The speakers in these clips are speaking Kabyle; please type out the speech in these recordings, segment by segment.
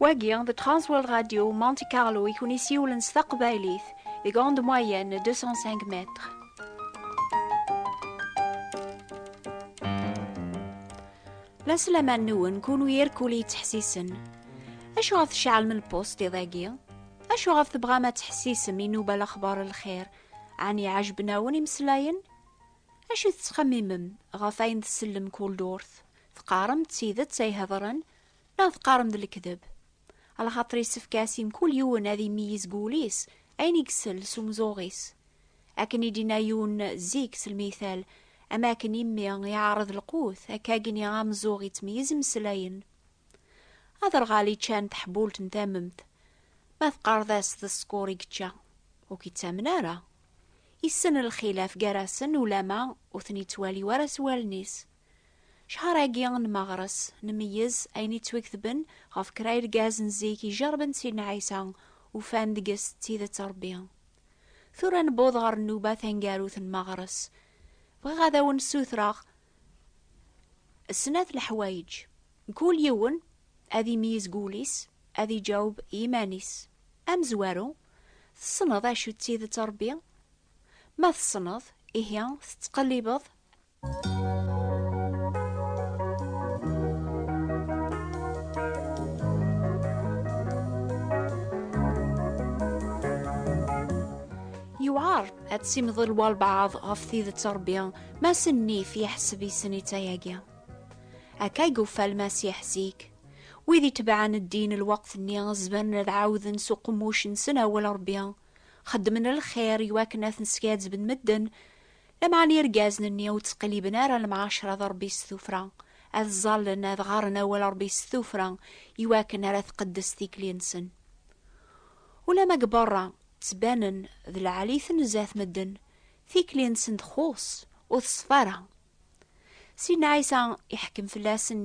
Wagi, the Transworld Radio Monte Carlo i kun-isiwlen s taqbaylit deg onde moyenne 205 mètres. La slaman-nwen kunwi irkul yettḥessisen. Acuɣer tceɛlem lpusṭ iḍ-agi? Acuɣef tebɣam ad tḥessisem i Nuba Lexbar n Lxir? Ɛni ɛejben-awen imeslayen? Acu tettxemmimem ɣef ayen tsellem kul durt? Teqqarem d tidet ay hedren neɣ teqqarem d lekdeb? Alxaṭer yessefk-as i mkul yiwen ad imeyyiz deg wul-is ayen i isell s umzuɣ-is. Akken i d-inna yiwen zik s lmital, Am akken imi iɛreḍ lqut, akka gni ameẓẓuɣ ittmeyyiz imeslayen. Aderɣal iččan teḥbult n tamemt, ma teqqareḍ-as d ṣṣkur i yečča, ur k-ittamen ara. Issen lxilaf gar-asen ulama ur ten-ittwali wara s wallen-is. Cchar-agi n Meɣres, nmeyyez ayen ittweketben ɣef kra irgaz n zik ijerben Sidna Ɛisa, ufan deg-s d tidet Rebbi. Tura newweḍ ɣer nnuba taneggarut n Meɣres. Bɣiɣ ad awen-ssutreɣ, Snat leḥwayeǧ, kul yiwen ad imeyyez deg wul-is, ad iǧaweb i yiman-is. Amezwaru, Tessneḍ acu d tidet Ṛebbi? Ma tessneḍ, ihi tettqellibeḍ? Yewɛeṛ ad tessimḍel walbeɛḍ ɣef tidet Ṛebbi. Mass nnif yeḥseb issen i tayagi. Akka i yufa lmasiḥ zik. Wid itebɛen ddin lweqt-nni zemren ad ɛawden s uqemmuc-nsen awal Ṛebbi, xeddmen lxir iwakken ad ten-skazzben medden, lameɛna irgazen-nni ur ttqelliben ara lemɛaceṛa d Ṛebbi s tuffra, ad ẓẓallen ad ɣaren awal Ṛebbi s tuffra iwakken ara tqeddes tikli-nsen. Ulamma deg beṛṛa ttbanen d lɛali-ten zdat medden, Tikli-nsen txuṣ, ur teṣfa ara. Sin Ɛisa iḥekkem fell-asen,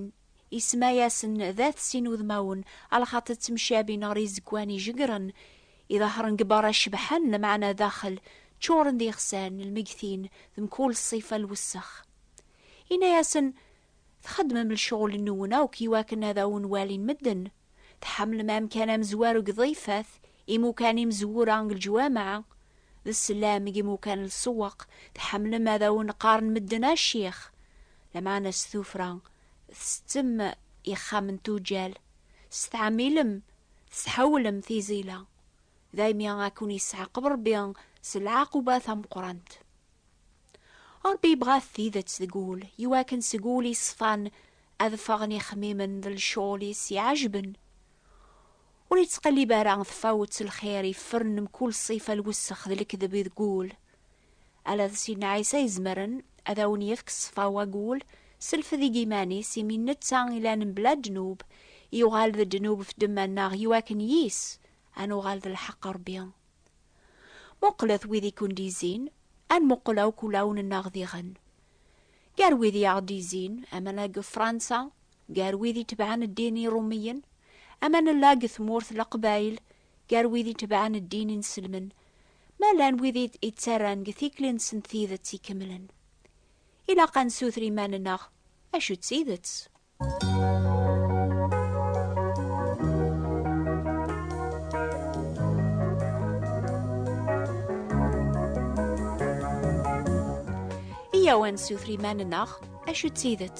isemma-yasen d at sin udmawen, alxaṭer ttemcabi neɣ rizegwan ijegren, iḍehṛen deg beṛṛa cebḥen, lameɛna daxel ččuṛen d ixsan, lmegtin, d mkul ṣṣifa n lwessex. Inna-yasen, Txeddmem lecɣel-nwen akk iwakken ad awen-walin medden. Tḥemmlem amkan amezwaru deg Ḍifat, Imukan imezwura deg leǧwameɛ, d sslam deg imukan n lsewweq, tḥemmlem ad awen-qqaren medden a ccix, lameɛna s tuffra tsettem ixxamen n tuǧǧal, s tɛamilem testḥawlem tiẓila, daymi a ken-yesɛaqeb Rebbi s lɛaquba tameqqrant. Rebbi yebɣa-t tidet deg wul, iwakken seg wul yeṣfan ad ffɣen ixemmimen d lecɣel i s-iɛejben. Ur ittqellib ara tfawet n lxir yefren mkul ṣṣifa n lwessex d lekdeb i deg ul. Ala d Sidna Ɛisa i izemren ad awen-yefk ṣṣfa n wagul s lfed i yiman-is, imi d netta i llan mebla ddnub, yuɣal d ddnub ɣef ddemma-nneɣ i wakken yis ad nuɣal d lḥeqq n Rebbi. Muqlet wid i ken-d-izzin, ad nmuqel akk ulawen-nneɣ diɣen. Gar wid i aɣ-d-izzin, aman-a deg Fransa, gar wid itebɛen ddin iṛumiyen, ama nella deg tmurt leqbayel gar wid itebɛen ddin inselmen, ma llan wid ittarran deg tikli-nsen tidet ikemlen. Ilaq ad nessuter iman-nneɣ, Acu d tidet? Iyyaw ad nessuter iman-nneɣ, Acu d tidet?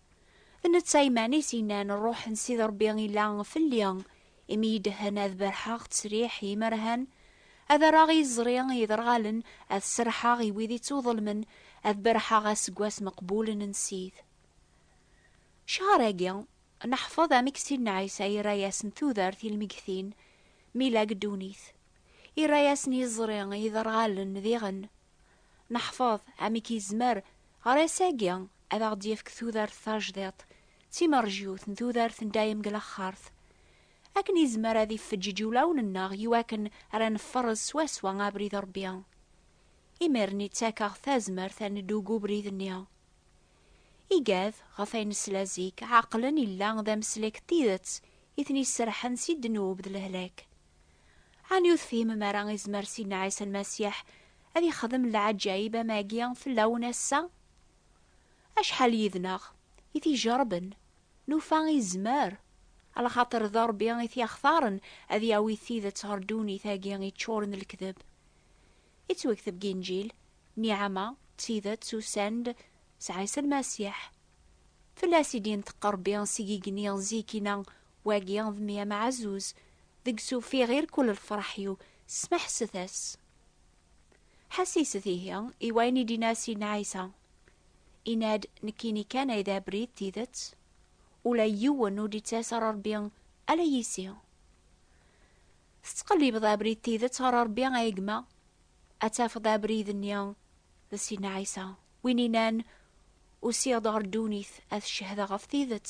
D netta iman-is yennan, Ṛṛuḥ n Sidi Ṛebbi illa fell-i, imi iyi-d-ehen ad berrḥeɣ ttesriḥ i yimerhan, ad rreɣ i yiẓri iderɣalen, ad serrḥeɣ i wid ittuḍelmen, ad berrḥeɣ aseggas meqbulen n Ssid. Ccher-agi, neḥfeḍ amek Sidna Ɛisa irra-yasen tudert i lmegtin, mi la deg ddunit. Irra-yasen iẓri iderɣalen diɣen, Neḥfeḍ, amek yezmer, ɣer ass-agi, ad aɣ-d-yefk tudert tajdiṭ, d timerjut n tudert n dayem deg laxert? Akken yezmer ad ifeǧǧeǧ ulawen-nneɣ i wakken ara neffereẓ swaswa abrid n Rebbi. Imir-nni ttakeɣ-t tazmert ad neddu deg ubrid-nni. Igad, ɣef ayen nesla zik, ɛeqlen illa d ameslek n tidet i ten-iserḥen si ddnub d lehlak. Ɛni ur tefhimem ara izmer Sidna Ɛisa Lmasiḥ ad yexdem leɛǧayeb am agi fell-awen ass-a? Acḥal yid-neɣ i t-ijerben, nufa izmer, alaxaṭer d Ṛebbi i t-yaxtaren ad yawi tidet ɣer ddunit-agi iččuren d lekdeb. Ittwekteb deg Inǧil, Niɛama d tidet usan-d s Ɛisa Lmasiḥ. Fell-as i d-inṭeq Ṛebbi s yigenni zik-ina Wagi d mmi ameɛzuz, deg-s ufiɣ i rkul lfraḥ-iw, smeḥset-as. Ḥasiset ihi i wayen i d-inna Sidna Ɛisa. Inna-d, Nekkini kan ay d abrid, tidet, ula yiwen ur d-ittas ɣer Rebbi ala yis-i. Tettqellibeḍ abrid tidet ɣer Rebbi a gma, ad tafeḍ abrid-nni d Sidna Ɛisa, win innan, Usiɣ-d ɣer ddunit ad cehdeɣ ɣef tidet,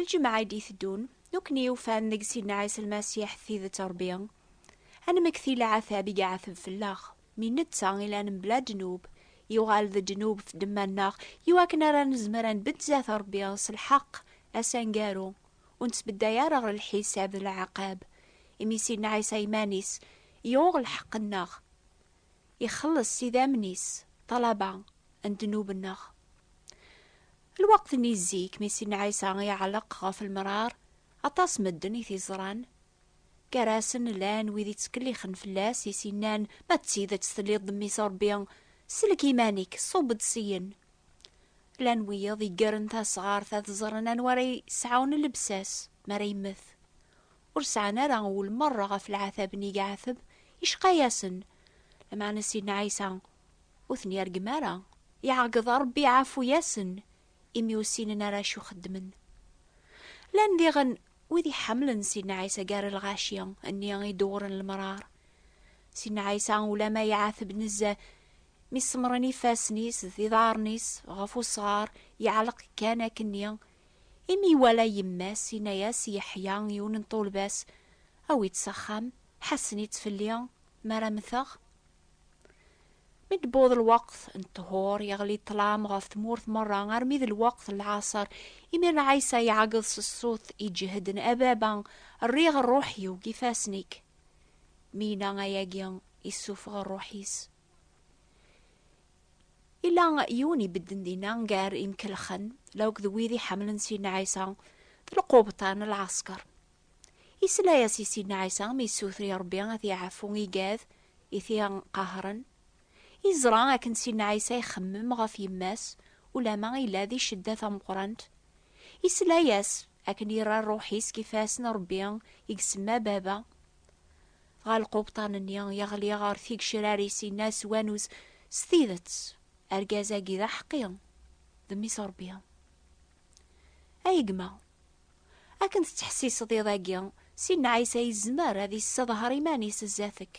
Lǧemɛa i d-iteddun, nekkni ufan deg Sidna Ɛisa Lmasiḥ d tidet Ṛebbi. Ad nemmekti leɛtab i iɛeteb fell-aɣ, mi netta i llan mebla ddnub, yuɣal d ddnub f ddemma-nneɣ, i wakken ara nezmer ad nbedd zdat Ṛebbi s lḥeqq, ass aneggaru, ur nettbedday ara ɣer lḥisab d leɛqab, imi Sidna Ɛisa iman-is yuɣ lḥeqq-nneɣ, ixelleṣ s idammen-is ṭṭalaba n ddnub-nneɣ. Lweqt-nni zik mi Sidna Ɛisa iɛelleq ɣef lmrar, aṭas medden i t-iẓran. Gar-asen llan wid ittkellixen fell-as, i s-innan, Ma d tidet telliḍ d Mmi-s n Rebbi, sellek iman-ik, ṣub-d syin. Llan wiyeḍ iggren tasɣart ad ẓren anwa ara yesɛun llebsa-s mi ara yemmet. Ur sɛan ara ul merra ɣef lɛatab-nni i iɛateb, yecqa-yasen. Lameɛna Sidna Ɛisa Ur ten-yergem ara. Iɛeggeḍ Ṛebbi iɛafu-yasen, imi ur ssinen ara acu xeddmen. Llan diɣen wid iḥemmlen Sidna Ɛisa gar lɣaci, nni i d-uɣren lemṛaṛ. Sidna Ɛisa ulamma iɛateb nezzeh, mi semmṛen ifassen-is d iḍaṛṛen-is ɣef usɣaṛ, iɛelleq kan akkenni. Imi iwala yemma-s, inna-yas i Yeḥya, yiwen n ṭṭulba-s, Awi-tt s axxam, ḥassen-itt fell-i, mi ara mmteɣ, Mi d-tewweḍ lweqt n ṭhur, yeɣli ṭṭlam ɣef tmurt merra armi d lweqt n lɛaṣer. Imir n Ɛisa iɛeggeḍ s ṣṣut iǧehden, A Baba, rriɣ rruḥ-iw deg ifassen-ik. Mi yenna ayagi, issufeɣ rruḥ-is. Yella yiwen ibedden dinna gar imkelxen, la akked wid iḥemmlen Sidna Ɛisa, d lqubṭa n lɛasker. Isla-yas i Sidna Ɛisa mi yessuter i Ṛebbi a t-iɛfu i gad i t-iqehṛen. Yeẓra akken Sidna Ɛisa ixemmem ɣef yemma-s ulamma yella di cedda tameqṛant. Isla-yas akken yerra ṛṛuḥ-is deg ifass n Ṛebbi i isemma Baba. Dɣa lqubṭan-nni yeɣli ɣer tigecrar-is yenna s wanuz, S tidet, argaz-agi d aḥeqqi, d Mmi-s n Ṛebbi. Ay gma! Akken tettḥessiseḍ iḍ-agi, Sidna Ɛisa yezmer ad yesseḍher iman-is zdat-k,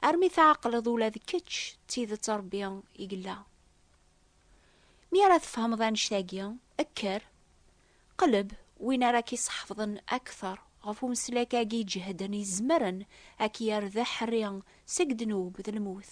armi tɛeqleḍ ula d kečč d tidet Ṛebbi i yella. Mi ara tfehmeḍ annect-agi, kker, qleb win ara k-iseḥfḍen akteṛ ɣef umeslak-agi iǧehden izemren a k-yerr d aḥerri seg ddnub d lmut.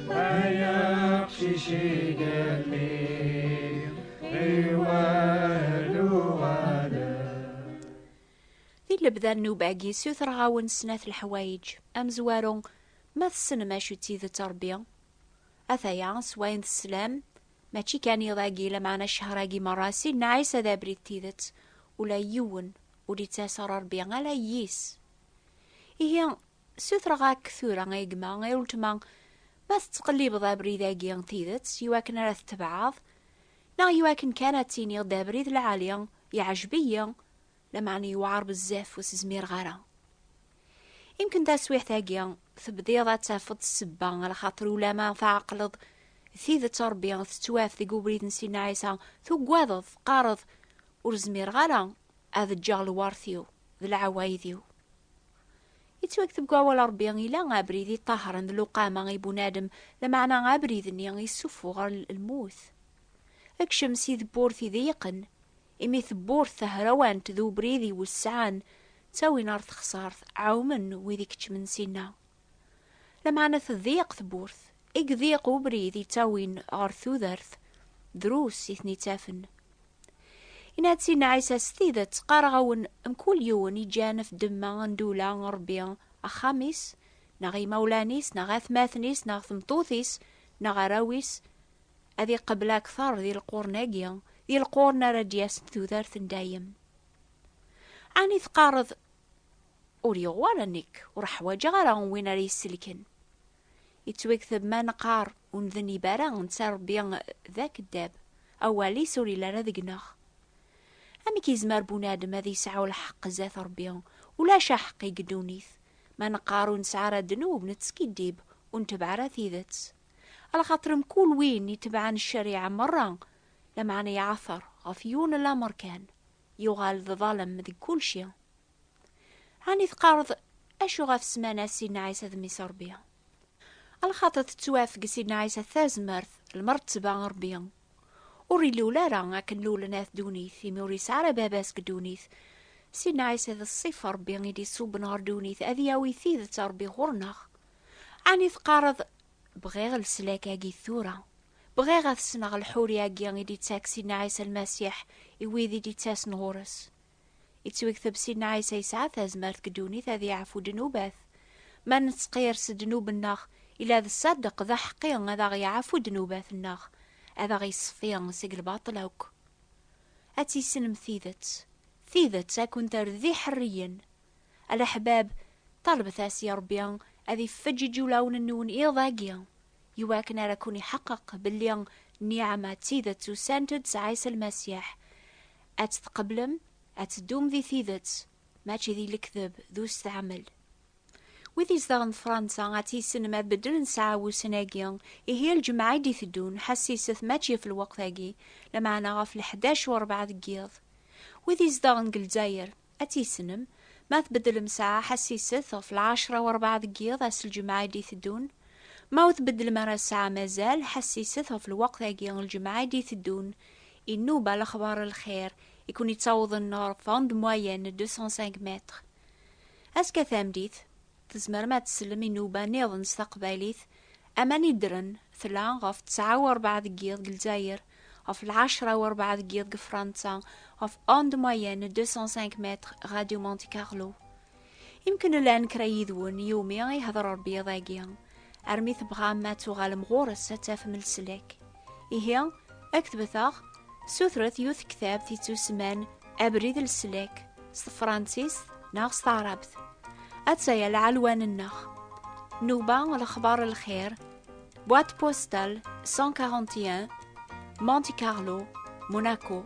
Ay aqcic igelli iwal uɣalan. Di lebda n nnuba-agi, ssutreɣ-awen snat leḥwayeǧ. Amezwaru, ma tessnem acu d tidet n Ṛebbi, at-aya, s wayen teslam, mačči kan iḍ-agi, lameɛna ccehṛ-agi meṛṛa, Sidna Ɛisa d abrid d tidet, ula yiwen ur d-ittas ɣer Ṛebbi, ala yis. Ihi, Ssutreɣ-ak tura, a gma, a uletma, ma tettqellibeḍ abrid-agi n tidet i wakken ara t-tebɛeḍ, neɣ i wakken kan ad tiniḍ d abrid lɛali, yeɛjeb-iyi, lameɛna yewɛer bezzaf ur s-zmireɣ ara. Imken taswiɛt-agi tebdiḍ ad tafeḍ ssebba ɣer xaṭer ulama tɛeqleḍ d tidet a Rebbi tettwaf deg ubrid n Sidna Ɛisa, tugadeḍ, teqqareḍ, ur zmireɣ ara Ad ǧǧeɣ lwert-iw d lɛewayed-iw. Yettwakteb deg wawal n Rebbi, ila abrid iṭahren d luqama i bunadem, lameɛna abrid-nni yessuffuɣ ɣer lmut. Ekcem si tewwurt iḍeyqen, imi tewwurt tahrawant d ubrid iwesɛan ttawin ɣer texsart, ɛumen wid ikeččmen sinna. Lameɛna tḍiq tewwurt, i yḍiq ubrid yettawin ɣer tudert, drus i ten-ittafen. Inna-asen Ɛisa, S tidet qqareɣ-awen, mkul yiwen yeǧǧan ɣef ddemma andula n Ṛebbi, axxam-is, neɣ imawlan-is, neɣ atmaten-is, neɣ tmeṭṭut-is, neɣ arraw-is, ad iqebbel akteṛ di lqurn-agi, di lqurn ara d-yasen tudert n dayem. Ɛni teqqareḍ, Ur yeɣ wara nekk, ur ḥwaǧeɣ ara win ara yi-selken. Yettwagteb ma neqqar ur ndenib ara netta Rebbi d akeddab, awal-is ur yelli ara deg-neɣ. Amek yezmer bunadem ad yesɛu lḥeqq zdat Rebbi, ulac aḥeqqi deg ddunit, ma neqqar ur nesɛi ara ddnub, nettskiddib, ur ntebɛ ara tidet? Lxaṭer mkul win itebɛen ccariɛa merra, lameɛna iɛater ɣef yiwen lamer kan, yuɣal d ḍalem deg kulci. Ɛni teqqareḍ acu ɣef ssmana Sidna Ɛisa d Mmi-s Ṛebbi? Lxaṭi tettwafeg Sidna Ɛisa tazmert, lmeṛteba n Ṛebbi. Ur ilul ara akken lulen at ddunit, imi ur yesɛi ara baba-s deg ddunit. Sidna Ɛisa d ṣṣif n Ṛebbi i d-iṣubben ɣer ddunit ad yawi tidet n Ṛebbi ɣur-neɣ. Ɛni teqqareḍ, Bɣiɣ leslak-agi tura. Bɣiɣ ad t-ssneɣ lḥuri-agi i d-ittak Sidna Ɛisa Lmasiḥ i wid i d-ittasen ɣur-s. Ittwegteb Sidna Ɛisa yesɛa tazmert deg ddunit ad yeɛfu ddnubat. Ma nettqir s ddnub-nneɣ, ila d ṣṣadeq d aḥeqqi ad aɣ-yeɛfu ddnubat-nneɣ, ad aɣ-yeṣfi seg lbaṭel akk. Ad tissinem tidet, tidet ad kent-terr d iḥerriyen. A leḥbab, ṭalbet-as i Ṛebbi ad ifeǧǧeǧ ulawen-nwen iḍ-agi, iwakken ara ken-iḥeqqeq belli nniɛama d tidet usan-d s Ɛisa Lmasiḥ, ad tt-tqeblem, ad teddum di tidet, mačči di lekdeb d usteɛmel. Wid izedɣen Fransa ad tissinem ad beddlen ssaɛa-wusen-agi, ihi a lǧemɛa i d-iteddun, ḥessiset mačči ɣef lweqt-agi, lameɛna ɣef lḥdac u rebɛa deg yiḍ. Wid izedɣen deg Lezzayer. Ad tissnem, ma tbeddlem ssaɛa ḥassiset ɣef lɛecra u rebɛa deg yiḍ ass lǧemɛa i d-iteddun, ma ur tbeddlem ara ssaɛa mazal ḥassiset ɣef lweqt-agi lǧemɛa i d-iteddun, inuba lexbar lxir i ken-ittawḍen ɣer fond moyenne deux cent cinq mètres. Azekka tameddit, Tzemrem ad tsellem inuba niḍen s taqbaylit, aman i ddren, tla, ɣef ttɛa u rebɛa deg yiḍ deg Lezzayer, ɣef lɛecra u rebɛa deg yiḍ deg Fransa, ɣef onde moyenne 205 mètres Radio Monte Carlo. Imknllan kra yid-wen yumi i hder Rebbi iḍ-agi. armi tebɣam ad tuɣalem ɣur-s ad tafem leslak. Ihi, ad k-tbet-aɣ, sutret yiwet tektabt yettusman Abrid n leslak s tefransist neɣ s taɛrabt. Atta-ya lɛelwan-nneɣ. Nuba lexbar n lxir, boîte postale 141, Monte Carlo, Monaco.